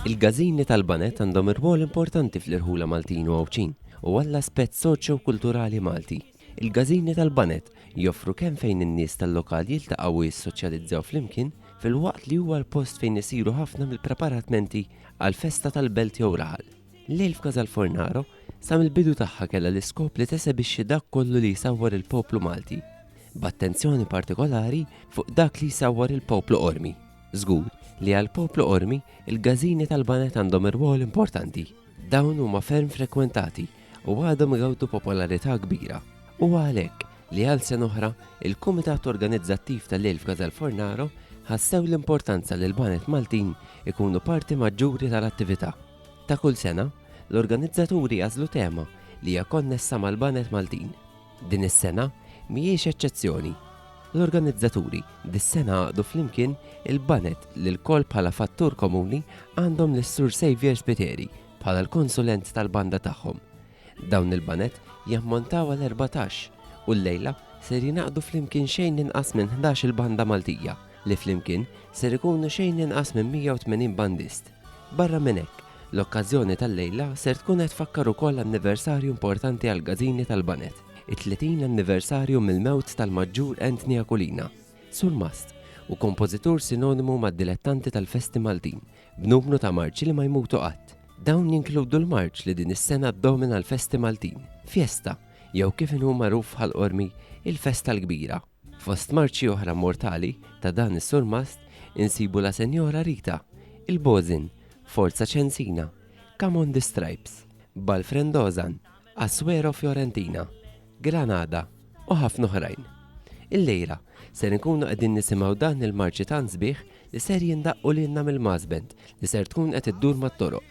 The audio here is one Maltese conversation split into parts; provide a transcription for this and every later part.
Il-gazini tal-banet għandhom irwol importanti fl-irħula Maltin u Għawċin u għall-aspett soċju kulturali Malti. Il-gazini tal-banet joffru kemm fejn in-nies tal-lokal jiltaqgħu u jissoċjalizzaw flimkien fil-waqt li huwa l-post fejn isiru ħafna mill-preparatmenti għal festa tal-belt jew raħal. L-Ilfka tal-Fornaro sa mill-bidu tagħha kellha l-iskop li tesebixxi dak kollu li jsawwar il-poplu Malti, b'attenzjoni partikolari fuq dak li jsawwar il-poplu Qormi. Żgur li għall-poplu Qormi l-gażini tal-baned għandhom irwol importanti. Dawn huma ferm frekwentati u għadhom igawdu popolarità kbira. Huwa għalhekk li għal sena oħra l-Kumitat Organizzattiv tal-Ilfka tal-Fornaro ħassew l-importanza li l-baned Maltin ikunu parti maġġuri tal-attività. Ta' kull sena, l-organizzaturi jażlu tema li hija konnessa mal-baned Maltin. Din is-sena mhijiex eċċezzjoni. L-organizzaturi dis-sena għaqdu flimkien il-baned li lkoll bħala fattur komuni għandhom lis-Sur Saviour Spiteri bħala l-konsulent tal-banda tagħhom. Dawn il-baned jammontaw għal erbatax u llejla ser jingħaqdu flimkien xejn inqas minn ħdax-il banda Maltija li flimkien ser ikunu xejn inqas minn 180 bandist. Barra minn hekk, l-okkażjoni tal-lejla ser tkun qed tfakkar ukoll anniversarju importanti għall-Gażini tal-Baned, it-30 anniversarju mill-mewt tal-Maġġur Anthony Aquilina, surmast u kompożitur sinonimu mad-dilettanti tal-festi Maltin, b'numru ta' marċi li ma jmutu qatt. Dawn jinkludu l-marċ li din is-sena ddomina l-festi Maltin, Fiesta, jew kif inhu magħruf bħall-qormi, il-Festa l-Kbira. Fost marċi oħra mortali ta' dan is-surmast insibu La Senjora Rita, Il-Bożin, Forza Ċensina, Come on the Stripes, Bal Frendozan, Assuero Fiorentina, Granada u ħafna oħrajn. Illejla ser inkunu qegħdin nisimgħu dan il-marċi tant sbieħ li ser jindaqqu lilna mill-Mass Band li ser tkun qed iddur mat-toroq.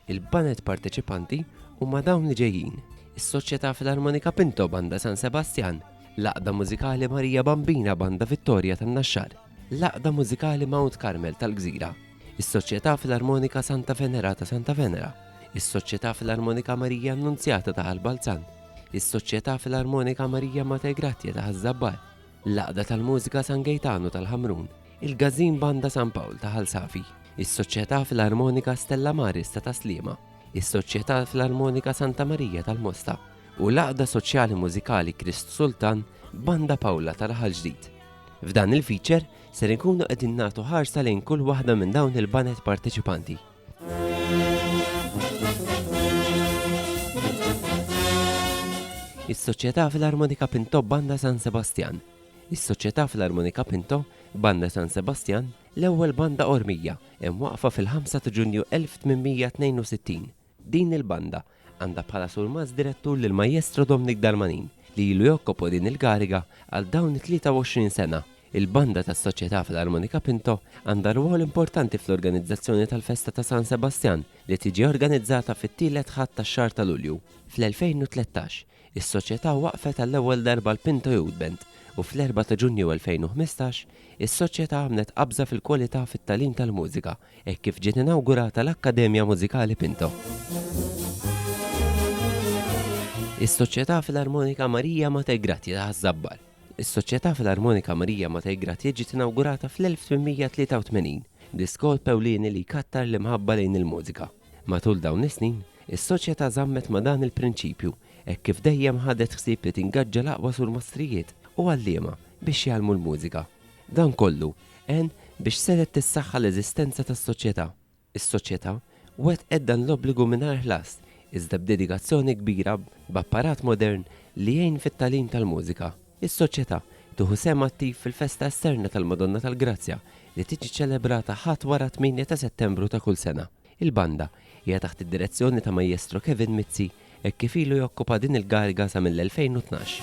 Il-banet parteċipanti huma dawn li ġejjin. Is-Soċjetà Filarmonika Pinto Banda San Sebastjan, L-Għaqda Mużikali Marija Bambina Banda Vittorja tan-Naxxar, l-Għaqda Mużikali Mount Carmel tal-Gżira, is-Soċjetà Filarmonika Santa Venera ta' Santa Venera, is-Soċjetà Filarmonika Marija Annunzjata ta' Ħal Balzan, is-Soċjetà Filarmonika Marija Mater Grazia ta' Ħaż-Żabbar, l-Għaqda tal-Mużika San Gejtanu tal-Ħamrun, il-Gażin Banda San Pawl ta' Ħal Safi, is-Soċjetà Filarmonika Stella Maris ta' Tas-Sliema, is-Soċjetà Filarmonika Santa Marija tal-Mosta, u l-Għaqda Soċjali Mużikali Krist Sultan Banda Pawla ta' Raħal Ġdid. F'dan il-feature ser inkunu qegħdin nagħtu ħarsa lejn kull waħda minn dawn il-banet parteċipanti. Is-Soċjetà Filarmonika Pinto Banda San Sebastian. Is-Soċjetà Filarmonika Pinto Banda San Sebastian l-ewwel banda ormija hemm waqfa fil-5 ta' Ġunju 1862 Din il-banda għandha bħala surmast direttur lill-Majjestro Domnic Darmanin li ilu jokkopo din il-kariga għal dawn it-23 sena. Il-banda tas-Soċjetà Filarmonika Pinto għandha rwol importanti fl-organizzazzjoni tal-festa ta' San Sebastjan li tiġi organizzata fit-tielet Ħadd tax-xahar ta' Lulju. Fl-2013, Is-Soċjetà waqqfet għall-ewwel darba l-Pinto Youth Band u fl-4 ta' Ġunju 2015, is-Soċjetà għamlet qabża fil-kwalità fit-tagħlim tal-mużika hekk kif ġiet inawgurata l-Akkademja Mużikali Pinto. Is-Soċjetà Filarmonika Marija Matej Grazja ta' Ħaż-Żabbar. Is-Soċjetà Filarmonika Marija Matej Grazja ġiet inawgurata fl-1883, diskors ewlieni li jkattar l-imħabba lejn il-mużika. Matul dawn is-snin, is-Soċjetà żammet ma' dan il-prinċipju hekk kif dejjem ħadet ħsieb li tingaġġa l-aqwa surmastrijiet u għalliema biex jgħallmu l-mużika. Dan kollu għen biex setgħet tissaħħa l-eżistenza tas-Soċjetà. Is-Soċjetà wettqet dan l-obbligu mingħajr ħlas iżda b'dedikazzjoni kbira b'apparat modern li jgħin fit-tagħlim tal-mużika. Is-Soċjetà tieħu sehem attiv fil-festa esterna tal-Madonna tal-Grazzja li tiġi ċelebrata Ħadd wara t-tmienja ta' Settembru ta' kull sena. Il-Banda hija taħt id-direzzjoni ta' Majjestro Kevin Mizzi hekk kif ilu jokkupa din il-kariga sa mill-2012.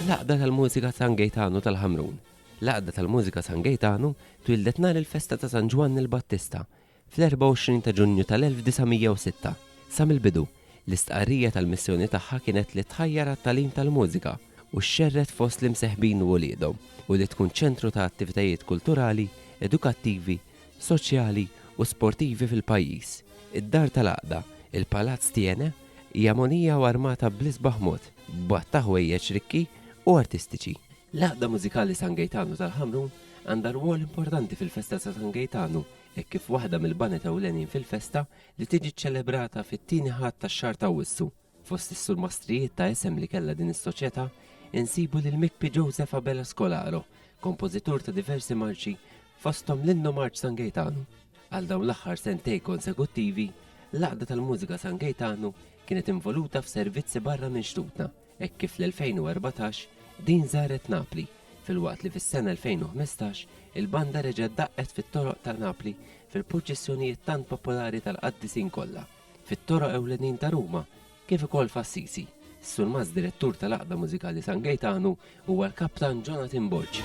L-Għaqda tal-Mużika San Gejtanu tal-Ħamrun L-Għaqda tal-Mużika San Gejtanu twieldet nhar il-festa ta' San Ġwann il-Battista Fl-24 ta' Ġunju tal-1906, sa mill-bidu, l-istqarrija tal-missjoni tagħha kienet li tħajjar għat-tagħlim tal-mużika u xxerred fost l-imseħbin u uliedhom u li tkun ċentru ta' attivitajiet kulturali, edukattivi, soċjali u sportivi fil-pajjiż. Id-Dar tal-Għaqda, il-Palazz Thiene, hija mogħnija u armata bl-isbaħ mod, b'għadd ta' ħwejjeġ rikki u artistiċi. L-Għaqda Mużikali San Gejtanu tal-Ħamrun għandha rwol importanti fil-festa ta' San Gejtanu hekk kif waħda mill-baned ewlenin fil-festa li tiġi ċċelebrata fit-tieni Ħadd tax-xahar t'Awwissu. Fost is-surmastrijiet ta' isem li kellha din is-soċjetà insibu lil Mikpi Joseph Abela Scolaro, kompożitur ta' diversi marċi fosthom l-Innu Marċ San Gejtanu. Għal dawn l-aħħar sentejn konsekuttivi, l-Għaqda tal-Mużika San Gejtanu kienet involuta f'servizzi barra minn xtutna, hekk kif fl-2014 din żaret Napli, filwaqt li fis-sena 2015 il-banda reġgħet daqqet fit-toroq ta' Napli fil-purċissjonijiet tant popolari tal-qaddisin kollha, fit-toroq ewlenin ta' Ruma kif ukoll f'Assisi. Surmaz Direttur tal-Għaqda Mużikali San Gejtanu huwa l-Kaptan Jonathan Borg.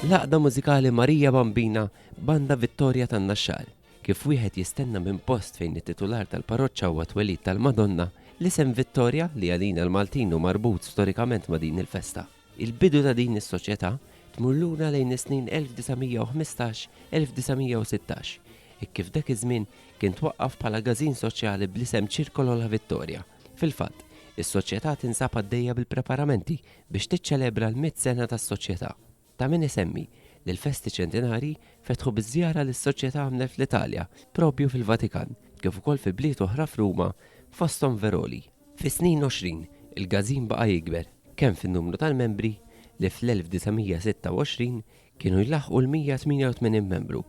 L-Għaqda Mużikali Marija Bambina, Banda Vittoria tan-Naxxar. Kif wieħed jistenna minn post fejn it-titular tal-parroċċa huwa t-twelid tal-Madonna, l-isem Vittoria, li għalina l-Maltin hu marbut storikament ma' din il-festa. Il-bidu ta' din is-soċjetà tmur lura lejn is-snin 1915, 1916, hekk kif dak iż-żmien kien twaqqaf bħala gażin soċjali bl-isem Circolo La Vittoria. Fil-fatt, is-soċjetà tinsab għaddejja bil-preparamenti biex tiċċelebra l-mitt sena tas-soċjetà. Ta' min isemmi li l-festi ċentinarji fetħu biż-żjara li s-Soċjetà għamlet fl-Italja, proprju fil-Vatikan, kif ukoll fi bliet oħra f'Ruma, fosthom Veroli. Fis-snin għoxrin, il-Gazin baqa' jikber, kemm fin-numru tal-membri, li fl-1926 kienu jlaħħqu l-188 membru,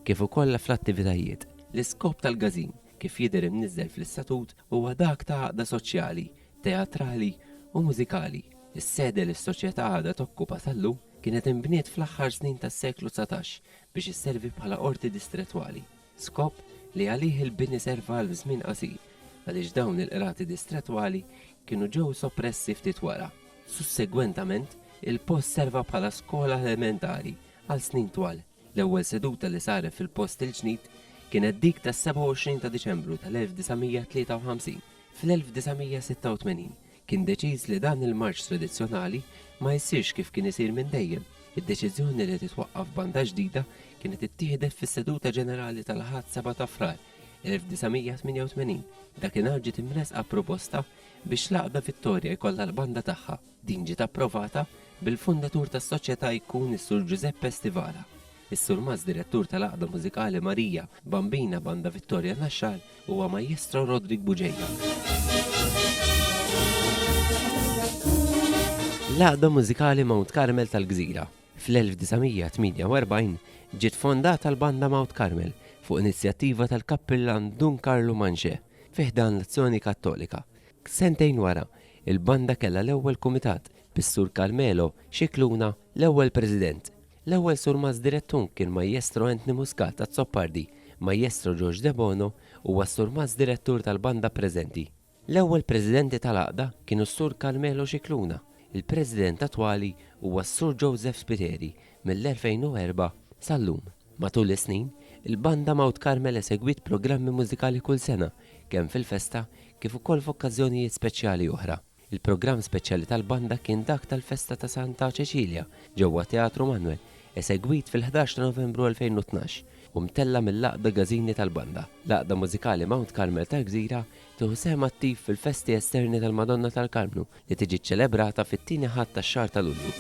kif ukoll fl-attivitajiet. L-iskop tal-Gazin, kif jidher imniżżel fl-istatut, huwa dak ta' għaqda soċjali, teatrali u mużikali. Is-sede li s-Soċjetà għadha tokkupa sal-lum kienet inbniet fl-aħħar snin tas-seklu dsatax biex isservi bħala qorti distrettwali, skop li għalih il-bini serva għal żmien qasir għaliex dawn il-qrati distrettwali kienu ġew soppressi ftit wara. Sussegwentament, il-post serva bħala skola elementari għal snin twal. L-ewwel seduta li saret fil-post il-ġnid kienet dik tas-27 ta' Diċembru tal-1953. Fl-1986 kien deċiż li dan il-marċ tradizzjonali ma jsirx kif kien isir minn dejjem. Id-deċiżjoni li titwaqqaf banda ġdida kienet ittieħdet fis-seduta ġenerali tal-Ħadd 7 ta' Frar 1988. Dakinhar ġiet imressqa proposta biex l-Għaqda Vittorja jkollha l-banda tagħha. Din ġiet approvata bil-fondatur tas-Soċjetà jkun is-Sur Ġużeppe Stivala, is-Surmast Direttur tal-Għaqda Mużikali Marija Bambina Banda Vittoria Naxxar huwa Majjestro Roderick Buġeja. L-Għaqda Mużikali Mount Carmel tal-Gżira, fl-1948 ġiet fondata l-Banda Mount Carmel fuq inizjattiva tal-Kappillan Dun Karlu Manxè fi ħdan l-Azzjoni Kattolika. Sentejn wara, il-banda kellha l-ewwel kumitat, bis-Sur Carmelo Scicluna l-ewwel president. L-ewwel surmast direttun kien Majjestro Anthony Muscat Azzopardi, Majjestro George Debono huwa s-surmast direttur tal-banda preżenti. L-ewwel presidenti tal-għaqda kienu s-Sur Carmelo Scicluna, il-president attwali huwa s-Sur Joseph Spiteri, mill-2004 sal-lum. Matul is-snin, il-Banda Mount Carmel esegwiet programmi mużikali kull sena, kemm fil-festa kif ukoll f'okkażjonijiet speċjali oħra. Il-programm speċjali tal-banda kien dak tal-festa ta' Santa Ċeċilja ġewwa Teatru Manwel, esegwit fil-ħdax ta' Novembru 2012 u mtella' mill-Għaqda Gażini tal-Banda, l-Għaqda Mużikali Mount Carmel tal-Gżira Tieħu sehem attiv fil-festi esterni tal-Madonna tal-Karmnu li tiġi ċċelebrata fit-tieni Ħadd tax-xahar ta' Lulju.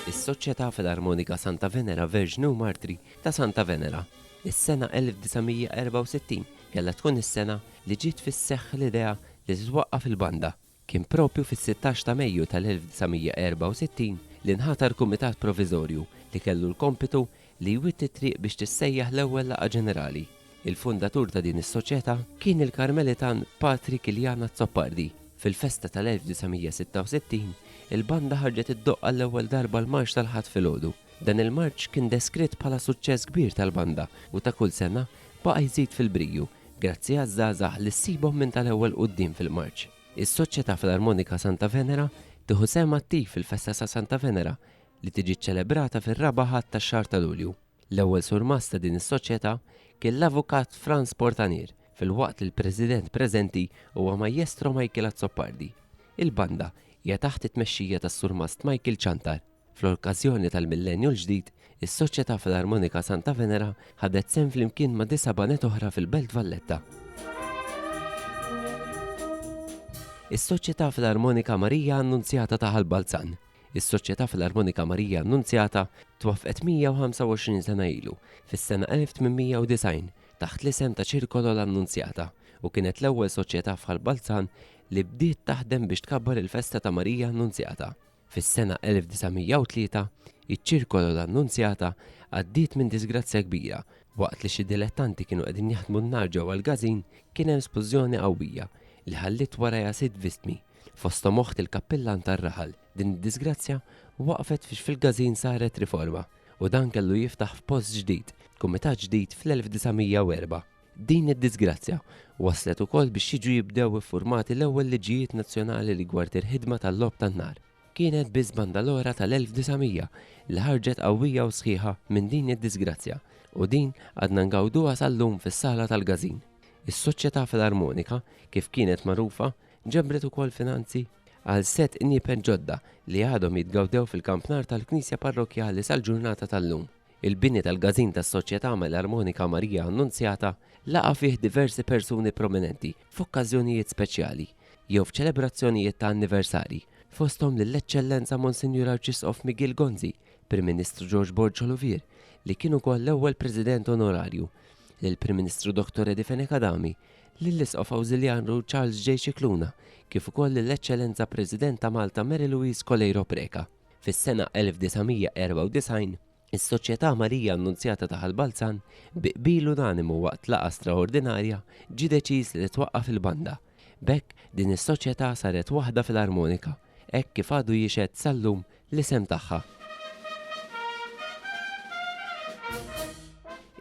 Is-Soċjetà Filarmonika Santa Venera Verġni u Martri ta' Santa Venera. Is-sena 1964 kellha tkun is-sena li ġiet fis-seħħ l-idea li titwaqqaf il-banda Kien proprju fis-sittax ta' Mejju tal-1964 li nħatar Kumitat Proviżorju li kellu l-kompitu li jwitti t-triq biex tissejjaħ l-ewwel laqgħa ġenerali. Il-fundatur ta' din is-soċjetà kien il-Karmelitan Patri Kiljan Azzopardi. Fil-festa tal-1966, il-banda ħarġet iddoqq għall-ewwel darba l-marċ tal-Ħadd filgħodu. Dan il-marċ kien deskritt bħala suċċess kbir tal-banda u ta' kull sena baqa' jżid fil-briju Grazzi għaż-żgħażagħ li ssibhom minn tal-ewwel quddiem fil-marċ, is-Soċjetà Filarmonika Santa Venera tieħu sehem attiv fil-festa ta' Santa Venera li tiġi ċċelebrata fir-Raba' Ħadd tax-xahar ta' Lulju. L-ewwel surmast ta' din is-soċjetà kien l-Avukat Frans Portanier filwaqt li l-President preżenti huwa Majjestro Michael Azzopardi. Il-banda hija taħt it-tmexxija tas-Surmast Michael Ciantar. Fl-okkażjoni tal-Millennju l-Ġdid, is-Soċjetà Filarmonika Santa Venera ħadet sehem flimkien ma' disa' baned oħra fil-Belt Valletta. Is-Soċjetà Filarmonika Marija Annunzjata ta' Ħal Balzan Is-Soċjetà Filarmonika Marija Annunzjata twaffqet 125 sena ilu, fis-sena 1890, taħt l-isem ta' Circolo l'Annunziata, u kienet l-ewwel soċjetà f'Ħal Balzan li bdiet taħdem biex tkabbar il-festa ta' Marija Annunzjata. Fis-sena 1903, iċ-ċirkolo l-Annunzjata għaddiet minn disgrazzja kbira. Waqt li xi dilettanti kienu qegħdin jaħdmu n-nar ġewwa l-każin, kien hemm splużjoni qawwija li ħalliet warajha sitt vittmi, fosthom oħt il-kappillan tar-raħal. Din id-disgrazzja waqfet fiex fil-każin saret riforma, u dan kellu jiftaħ f'post ġdid, kumitat ġdid fl-1904. Din id-diżgrazzja wasslet ukoll biex jiġu jibdew iffurmati l-ewwel liġijiet nazzjonali rigward il-ħidma tal-logħob tan-nar. Kienet biss banda l-oħra tal-1900 li ħarġet qawwija u sħiħa minn din id-diżgrazzja u din għadna ngawduha sal-lum fis-Sala tal-Każin. Is-Soċjetà Filarmonika, kif kienet magħrufa, ġabret ukoll finanzi għal sett qniepen ġodda li għadhom jitgawdew fil-kampnar tal-Knisja Parrokkjali sal-ġurnata tal-lum. Il-bini tal-Gażin tas-Soċjetà Melarmonika Marija Annunzjata laqa' fih diversi persuni prominenti f'okkażjonijiet speċjali jew f'ċelebrazzjonijiet ta' anniversarji, fosthom lill-Eċċellenza Monsinjur Arċisqof Miguel Gonzi, Prim Ministru George Borg Colovier, li kien ukoll l-ewwel President Onorarju, lill-Prim Ministru Dottor Eddie Fenech Adami, lill-Isqof Awżiljarju Charles J. Scicluna, kif ukoll lill-Eċċellenza President ta' Malta Mary Louise Coleiro Preca. Fis-sena 1994, is-Soċjetà Marija Annunzjata ta' Ħal Balzan, bi qbil unanimu waqt laqgħa straordinarja, ġie deċiż li titwaqqaf il-banda. B'hekk, din is-soċjetà saret waħda filarmonika, hekk kif għadu jixhed sal-lum l-isem tagħha.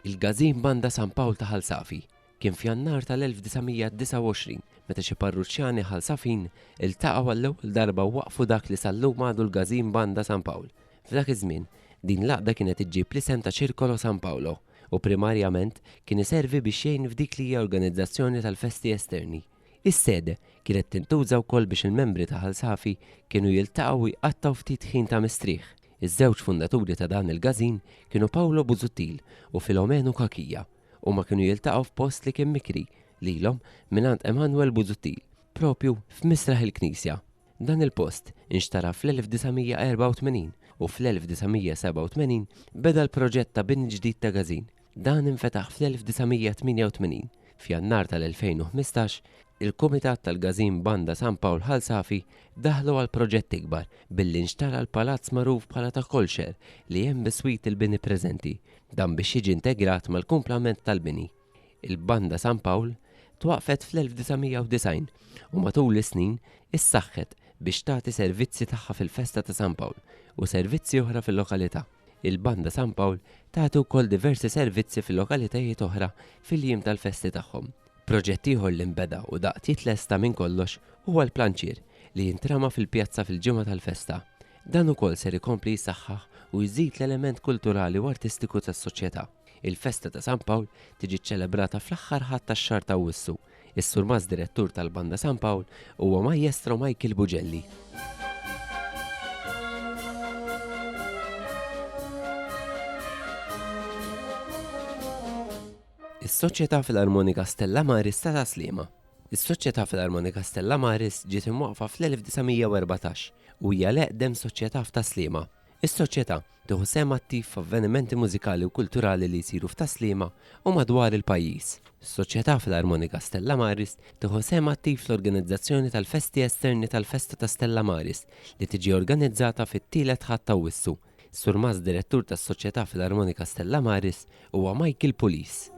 Il-Gazin Banda San Pawl ta' Ħal Safi, Kien f'Jannar tal-1929 meta xi parruċċjani Ħal-Safin iltaqgħu għall-ewwel darba u waqqfu dak li sal-lum għadu l-Gazin Banda San Pawl. F'dak iż-żmien, din l-għaqda kienet iġġib l-isem ta' Circolo San Paolo u primarjament kien iservi biex jgħin f'dik li hija organizzazzjoni tal-festi esterni. Is-sede kienet tintuża wkoll biex il-membri ta' Ħal Safi kienu jiltaqgħu u jqattgħu ftit ħin ta' mistrieħ. Iż-żewġ fundaturi ta' dan il-Gazin kienu Paolo Busuttil u Filomeno Cachia. Huma kienu jiltaqgħu f'post li kien mikri lilhom mingħand Emanuel Busuttil, propju f'misraħ il-knisja. Dan il-post inxtara fl-1984 u fl-1987 beda l-proġett ta' bini ġdid ta' Gazin. Dan infetaħ fl-1988. F'Jannar tal-2015, il-Kumitat tal-Gazin Banda San Pawl Ħal Safi daħlu għal proġett ikbar billi nxtara l-palazz magħruf bħala ta' Kolxer li hemm biswit il-bini preżenti Dan biex jiġi integrat mal-kumplament tal-bini. Il-Banda San Pawl twaqqfet fl-1990 u matul is-snin issaħħet biex tagħti servizzi tagħha fil-festa ta' San Pawl u servizzi oħra fil-lokalità. Il-Banda San Pawl tagħti wkoll diversi servizzi fil-lokalitajiet oħra fil-jiem tal-festi tagħhom. Proġett ieħor li nbeda u daqt jitlesta minn kollox huwa l-planċier li jintrama fil-pjazza fil-ġimgħa tal-festa. Dan ukoll ser ikompli jsaħħaħ u jżid l-element kulturali u artistiku tas-soċjetà. Il-festa ta' San Pawl tiġi ċċelebrata fl-aħħar Ħadd tax-xahar t'Awwissu. Is-Surmast Direttur tal-Banda San Pawl huwa Majjestro Michael Bugelli. Is-Soċjetà Filarmonika Stella Maris ta' Tas-Sliema. Is-Soċjetà Filarmonika Stella Maris ġiet imwaqqfa fl-1914 u hija l-eqdem soċjetà f'Tas-Sliema. Is-Soċjetà tieħu sehem attiv f'avvenimenti mużikali u kulturali li jsiru f'Tas-Sliema u madwar il-pajjiż. Is-Soċjetà Filarmonika Stella Maris tieħu sehem attiv fl-organizzazzjoni tal-festi esterni tal-Festa ta' Stella Maris li tiġi organizzata fit-tielet Ħadd t'Awwissu Surmast Direttur tas-Soċjetà Filarmonika Stella Maris huwa Michael Pulis.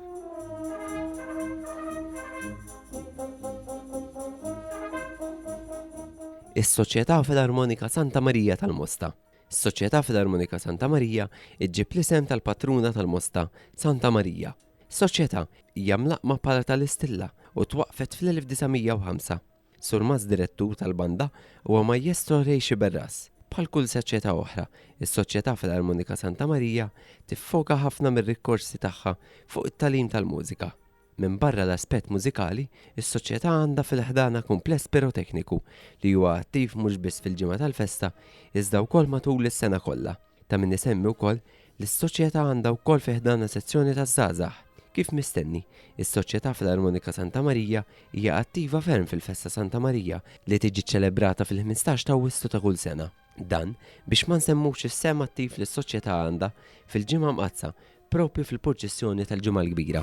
Is-Soċjetà Filarmonika Santa Marija tal-Mosta. Is-Soċjetà Filarmonika Santa Marija iġġib l-isem tal-patruna tal-Mosta, Santa Marija. Soċjetà hija mlaqqma bħala tal-Istilla u twaqqfet fl-1905. Surmaz Direttur tal-Banda huwa Majjestro Ray Sciberras. Bħal kull soċjetà oħra, is-Soċjetà Filarmonika Santa Marija tiffoka ħafna mir-rikorsi tagħha fuq it-tagħlim tal-mużika. Minbarra l-aspett mużikali, is-Soċjetà għandha fil-ħdanha kumpless pirotekniku li huwa attiv mhux biss fil-ġimgħa tal-festa iżda wkoll matul is-sena kollha. Ta' min isemmi wkoll li s-Soċjetà għandha wkoll fi ħdanha sezzjoni taż-żgħażagħ. Kif mistenni, is-Soċjetà fl-Armonika Santa Marija hija attiva ferm fil-festa Santa Marija li tiġi ċċelebrata fil-ħmistax t'Awwissu ta' kull sena. Dan biex ma nsemmux is-sehem attiv li s-Soċjetà għandha fil-Ġimgħa Mqaddsa propju fil-purċissjoni tal-Ġimgħa l-Kbira.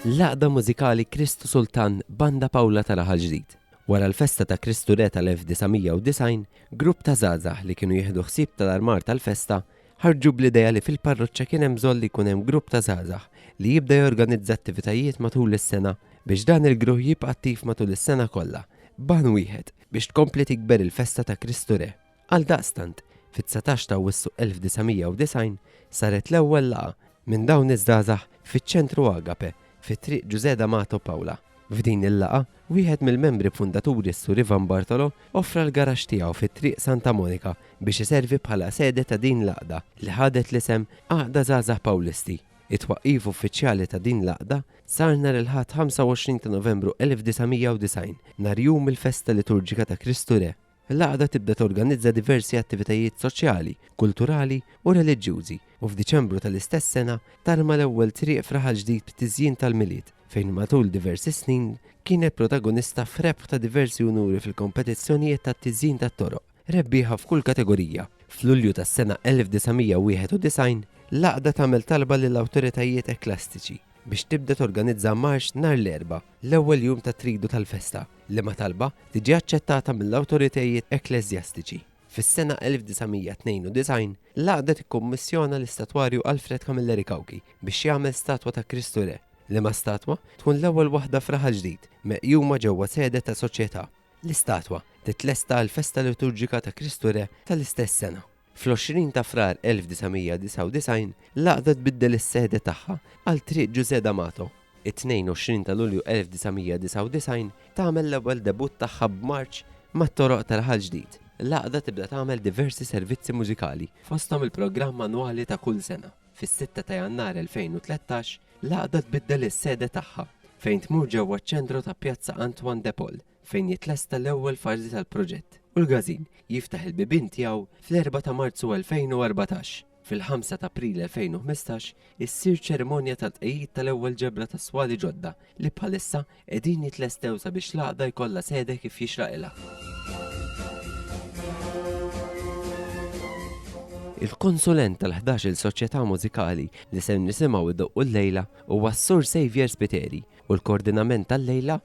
L-għaqda mużikali Kristu Sultan Banda Pawla ta' Raħal Ġdid. Wara l-festa ta' Kristu Re tal-1990, grupp ta' żgħażagħ li kienu jieħdu ħsieb tal-armar tal-festa ħarġu bl-idea li fil-parroċċa kien hemm bżonn li jkun hemm grupp ta' żgħażagħ li jibda jorganizza attivitajiet matul is-sena biex dan il-gruħ jibqa' attiv matul is-sena kollha, ban wieħed biex tkompli tikber il-festa ta' Kristu Re. Għaldaqstant, fit-dsatax ta' Awwissu 1990 saret l-ewwel laqgħa minn dawn iż-żgħażagħ fiċ-Ċentru Agape fi Triq Ġużè D'Amato Paola. F'din il-laqgħa, wieħed mill-membri fundaturi s-Sur Ivan Bartolo offra l-garaxx tiegħu fi Triq Santa Monika biex iservi bħala sede ta' din l-għaqda li ħadet l-isem Għaqda Żgħażagħ Pawlisti. It-twaqqif uffiċjali ta' din l-għaqda sar nhar il-Ħadd 25 ta' Novembru 1990, nhar jum il-festa liturġika ta' Kristu Re. L-għaqda tibda torganizza diversi attivitajiet soċjali, kulturali u reliġjużi u f'Diċembru tal-istess sena tarma l-ewwel triq f'raħal ġdid b'tiżjin tal-Milied fejn matul diversi snin kienet protagonista f'rebħ ta' diversi unuri fil-kompetizzjonijiet tat-tiżjin tat-toroq, rebbieħa f'kull kategorija. F'Lulju tas-sena 1991, l-għaqda tagħmel talba lill-awtoritajiet ekkleastiċi biex tibda torganizza marx nhar l-Erbgħa l-ewwel jum tat-tridu tal-festa, liema talba tiġi aċċettata mill-awtoritajiet ekkleżjastiċi. Fis-sena 1992, l-Għaqda tikkummissjona l-istatwarju Alfred Camilleri Cauchi biex jagħmel statwa ta' Kristu Re, liema statwa tkun l-ewwel waħda f'raħal ġdid meqjuma ġewwa sede ta' soċjetà. L-istatwa titlesta għall-festa liturġika ta' Kristu Re tal-istess sena. Fl-20 ta' Frar 1999, l-Għaqda tbiddel is-sede tagħha għal Triq Ġużè D'Amato. It-22 ta' Lulju 1999 tagħmel l-ewwel debutt tagħha b'marċ mat-toroq tal-Ħal Ġdid. L-Għaqda tibda tagħmel diversi servizzi mużikali, fosthom il-programm annwali ta' kull sena. Fis-sitta ta' Jannar 2013, l-Għaqda tbiddel is-sede tagħha, fejn tmur ġewwa ċ-ċentru ta' Pjazza Antoine de Paul. fejn jitlesta l-ewwel fażi tal-proġett u l-Gazin jiftaħ il-bibien tiegħu fl-4 ta' Marzu 2014. Fil-5 ta' April 2015 issir ċerimonja tat-tqegħid tal-ewwel ġebla ta' swali ġodda li bħalissa qegħdin jitlestew sabiex l-għaqda jkollha sede kif jixraqilha. Il-konsulent tal-11-il soċjetà mużikali li ser nisimgħu idoqqu llejla huwa s-Sur Saviour Spiteri u l-koordinament tal-lejla